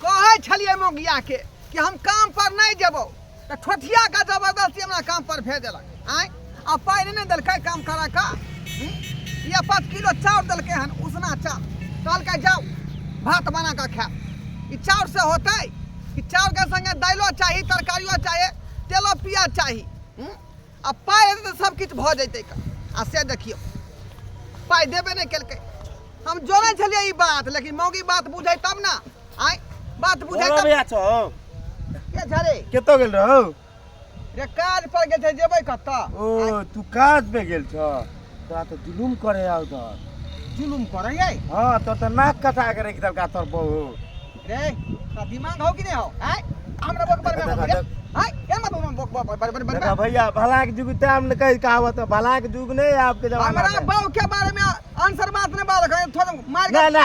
कहै छलियै मोगिया के कि हम काम पर नहीं जेबो तो ठोठिया का जबरदस्ती हमरा काम पर भेज देलक आय आ पाई नहीं देलकै काम करा का हम्म? ये पाँच किलो चाउर देलकै हन उसना चाउर कहलकै जाओ भात बना का खाए ई चाउर से होतै ई चाउर के संगे दालियो चाही तरकारियो चाही तेलो पियाज चाही हम्म? आ पाइ हेतै तऽ सब किछु भऽ जैतै कऽ आ से देखियौ पाइ देबे नहि केलकै हम जोड़ै छलियै ई बात लेकिन मौगी बात बुझै तब ने आइ बात बुझै तब भैया छौ के झरे केतो गेल रहौ रे काज पर गेल छै जेबै कतऽ ओ तू काज पे गेल छौ तोरा तऽ जुलुम करे आउ उधर जुलुम करे ये हां तो तो नाक कटा के रख देलका तोर बहू रे का दिमाग हो कि नहीं हो हैं हमरा बक पर में हैं ए मत हम बक बक पर पर पर भैया भला के जुग टाइम न कह कहावत भला के जुग नहीं आपके जमाना हमरा बहू के बारे में आंसर बात नहीं बात थोड़ा मार ना ना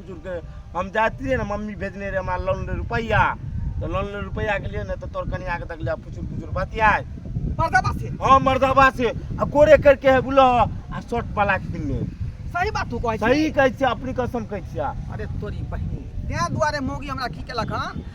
जुड़के हम जाइत रहियै ने मम्मी भेजने रहै हमरा लोन ले रुपैआ तऽ लोन ले रुपैआ गेलियै ने तऽ तोर कनिया के देखलियै फुचुर फुचुर बतियाय मर्दाबा से हाँ मर्दाबा से आ गोरे करके है बुला आ शर्ट वाला किनने सही बात तू कहै सही कहै छियै अपनी कसम कहै छियै अरे तोरी बहिनी तें दुआरे मौगी हमरा की केलक हन